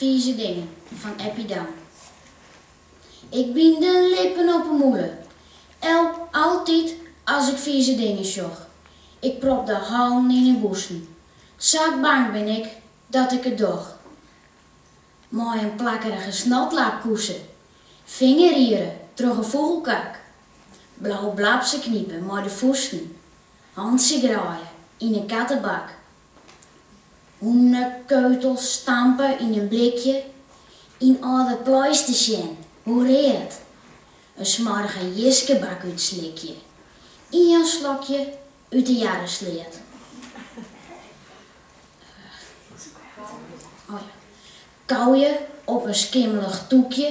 Fize dingen fan Eppie Dam. Ik byn de lippen op 'e mûle. El, altyd as ik fize dingen sjoch. Ik prop de hannen yn 'e bûsen. Sa bang bin ik dat ik it doch. Mei in plakkerige snotlaap koese, fingerriere troch in fûgelkak, blau blabze knipe mei de fûsten, hantsje graaie yn in kattebak. Hûnekeutels stampe yn in blikje yn âlde pleisters sjen, hoe read. In smoarge jiskebak útslikje, ien slokje út de jarre sleat. Kauje op in skimmelich tûkje,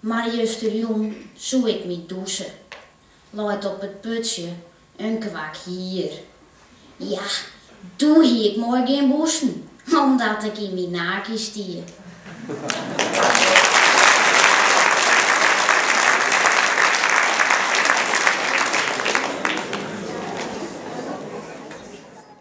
Mar justerjûn soe ik my dûse. Leit op it putsje in kwak hier. Ja, doe hie ik moai gjin bûsen, omdat ik yn myn nakie stie.